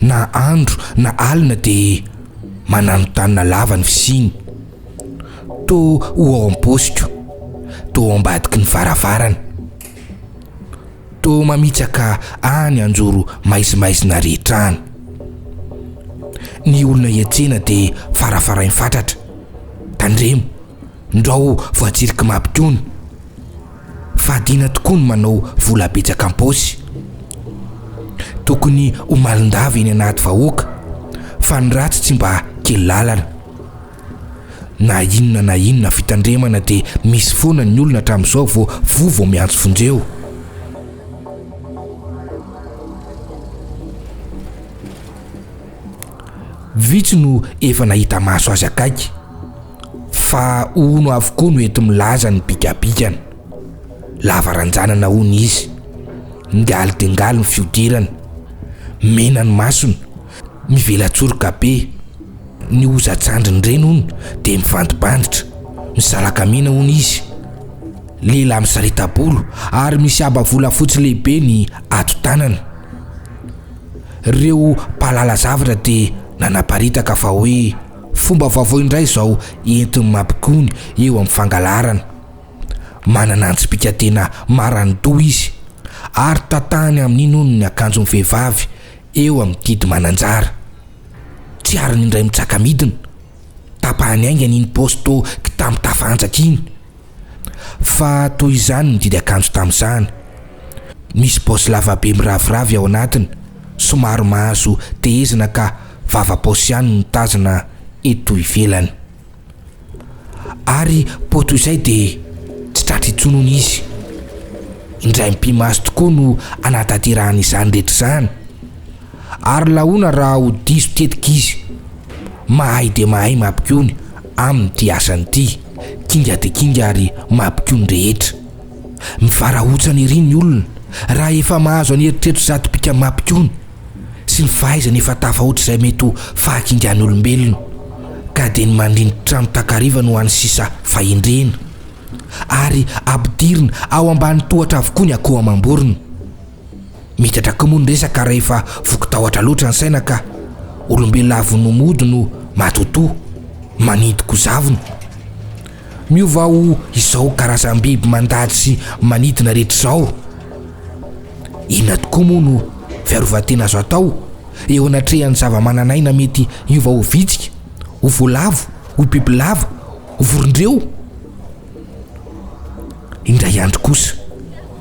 na andro na alina dia mananontanona lava ny fisiany. Toa ho ao am-paosiko, toa ao ambadiky ny varavarana. Toa mamitsaka any anjoro maizimaizina rehetra any. Ny olona hiantsena dia farafarainy fatratra. Tandremo, ndrao voatsiriky mapitony. Fadiana tokoa ny manao vola betsaka am-paosy. Tokony ho malin-dava eny anaty vahoaka fa ny ratsy tsy mba kely lalana. Na inona na inona fitandremana dia misy foana ny olona hatramin'izao vao voa vao miantso vonjeo. Vitsy no efa nahita maso azy akaiky, fa hono avokoa no enti-milaza ny bigabigany. Lava ranjanana hono izy, ngali dia ngali ny fihodirany, mena ny masony, mivela-tsoroka be, ny hozan-tsandriny ireny hono dia mivandibanditra, misalaka mena hono izy. Lehilahy misarita-bolo ary misy haba volafotsy lehibe ny ato-tanany. Ireo mpahalala zavatra dia nanaparitaka fa hoe fomba vaovao indray izao entin'ny mampikony eo amin'ny fangalarana. Manana antsipika tena marandoha izy ary tantahany amin'iny hono ny akanjon'ny vehivavy eo amin'ny didy mananjara. Tsy ariny indray mitsaka-midina. Tapahany haingana iny paosy toa kitambo tafahantsaka iny. Fa toy izany ny didy akanjo tamosahana. Misy paosy lavabe miraviravy ao anatiny, somary mahazo tehezina ka vava paosy ihany no tazana eto ivelany. Ary po toy izay dia tsy tratra intsony hono izy. Indray mipi-maso tokoa no anatanterahany izany rehetra izany. ary lahoana raha ho diso tetika izy. Mahay dia mahay mapikony amin'ity asany ity, kinga dia kinga ary mapikony rehetra. Mivarahontsana ery ny olona raha efa mahazo an'i eritreritry zato bika mapikony sy ny fahaizany efa tafahoatra izay mety ho fahakingan'olombelona ka dia ny mandrinty trano takariva no any sisa fahendrena ary ampidirina ao ambany tohatra avokoa ny akoho amam-borona. Mety hatraka moa ny resaka rehefa voky tahotra loatra ny saina ka. Olombelona avy no mody no matotoa, maninto kozavina. Miova ho izao karazam-biby mandady sy manidina rehetra izao. Inona tokoa moa no fiarovan-tena azo atao eo anatrehan'ny zava-manan'aina mety hiova ho vitsika, ho voalavo, ho bibilava, ho vorondreo? Indray andro kosa.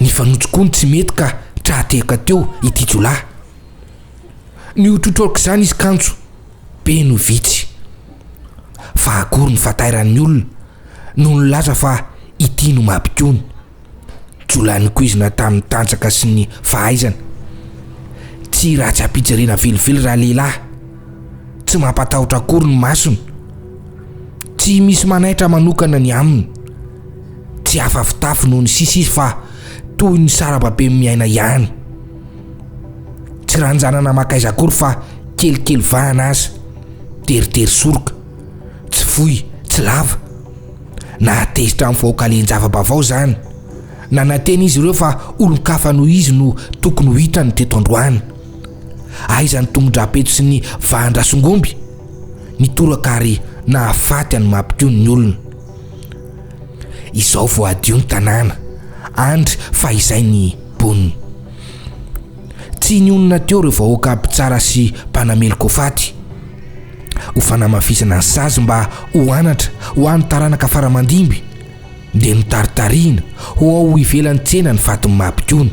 Nifanotso koa ny tsy mety ka tra-tehaka teo ity jiolahy. Nihotrohotro aok'izany izy kanjo be no vitsy fa akory ny fatairan'ny olona no nilaza fa ity no mampikony. Jiolahy nokoizina tamin'ny tanjaka sy ny fahaizana. Tsy ratsy ampijerena velively ralehilahy Tsy mampatahotra akory ny masony. Tsy misy manaitra manokana ny aminy. Tsy hafa fitafy noho ny sisa izy fa toy ny sarababem miaina ihany. Tsy ranjanana makaiza akory fa kelikely vahana aza. Teritery soroka. Tsy fohy, tsy lava. Nahatezitra amin'ny fahokalian-java-baovao izany. Nanantena izy ireo fa olon-kafa noho izy no tokony ho hitany teto androany. Aiza ny tombon-drahapeto sy ny vahan-drasongomby? Nitoraka ary nahafaty an'i Mapiko ny olona. Izao vao hadio ny tanàna, andry fa izay ny mponina. Tsy nionona teo ireo vahoaka mpitsara sy mpanameloka ho faty, ho fanamafisana ny sazy mba ho anatra ho an'ny taranaka faramandimby, dia notaritarihina ho ao ivelan'ny tsena ny fatin'i Mapikony.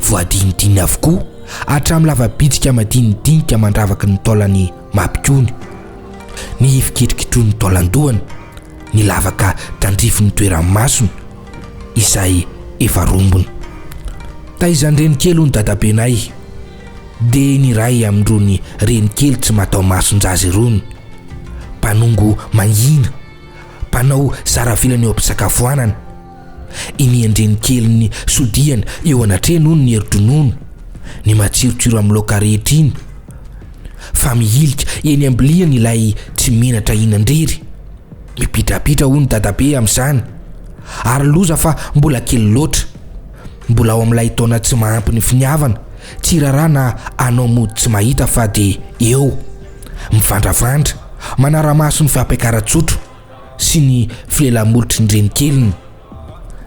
Voadinidiny avokoa hatramin'ny lava-bitsika madinidinika mandravaky ny taolan'i Mapikony, ny hifikitrokitroin'ny taolan-dohany, ny lavaka tandrifin'ny toeran'ny masony izay efa rombona. Taizan-drenikely hono dadabenay, dia ny iray amin'irony renikely tsy mataho-mason-jaza irony, mpanongo mangina, mpanao zara vilany eo am-pisakafoanana. Inian-dreny kelin'ny sodiany eo anatrehany hono ny herin-dronono, ny matsirotsiro amin'ny laoka rehetra iny, fa mihilika eny am-biliany ilay tsy menatra hihinan-drery. Mipitrapitra hono dadabe amin'izany, ary loza fa mbola kely loatra. Mbola ao amin'ilay taona tsy mahampy ny finiavana, tsy rarà na anao mody tsy mahita fa dia eo, mivandravandra, manara-maso ny fampiakaran-tsotra. sy ny filela-molotry ny renikeliny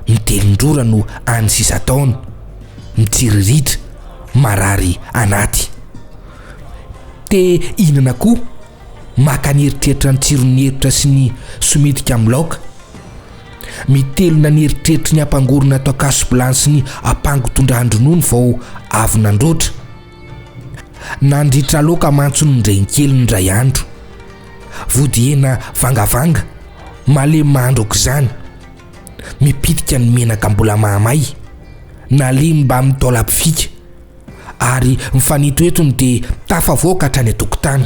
mitelin-drora no any sisa taona, mitsiriritra, marary anaty. Te hihinana koa, maka ny eritreritra ny tsiron'ny herotra sy ny somitika amin'ny laoka. Mitelina ny eritreritry ny ampangorona ato an-kaso-bilany sy ny ampango tondran-dronono vao avy nandroatra. Nandritra loka mantsy ny renikely indray andro. Vodihena vangavanga, malemy mahandro aok'izany. Mipitika ny menaka mbola mahamay, nalemy mbamin'ny taolam-pifika, ary mifanetroetro ny dia tafavoaka hatrany an-tokotany.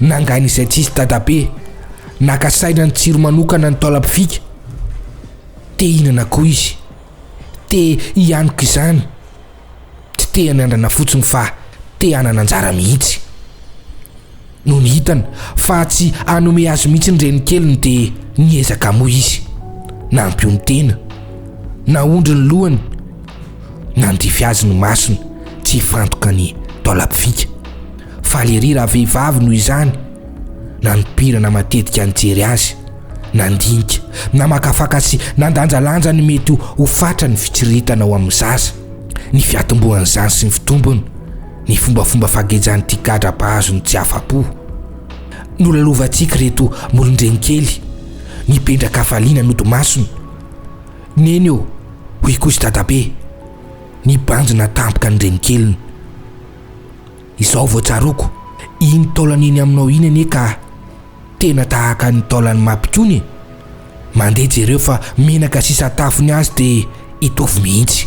Nangany izay tsisy dadabe, naka saina nitsiry manokana ny taolam-pifika. Te hihinana koa izy. Te hianoka izany. Tsy te hanandrana fotsiny fa te hanana anjara mihitsy. Nony hitany fa tsy hanome azy mihitsy ny renikeliny dia niezaka hamoha izy. Nampio ny tena. Naondry ny lohany. Nandify azy ny masony tsy hifantoka ny taolam-pifika. Faly ery raha vehivavy noho izany, nanompirana matetika nijery azy, nandinika, namakafaka sy nandanjalanja ny mety ho fatran'ny fitsiriritana ao amin'ny zaza, ny fiatombohan'izany sy ny fitombony, ny fombafomba fagejan'ity gadra mpahazo ny tsy afa-po. Nolalovantsika ireto molon-drenikely, nipendrak'hafaliana nody masony. Neny ô, hoy kosa Dadabe, nibanjina tampoka ny renikeliny. Izao vao tsaroako, iny taolana eny aminao iny anie ka tena tahaka ny taolan'i Mapy koany e! Mandeha jereo fa menaka sisa tafony azy dia hitovy mihitsy.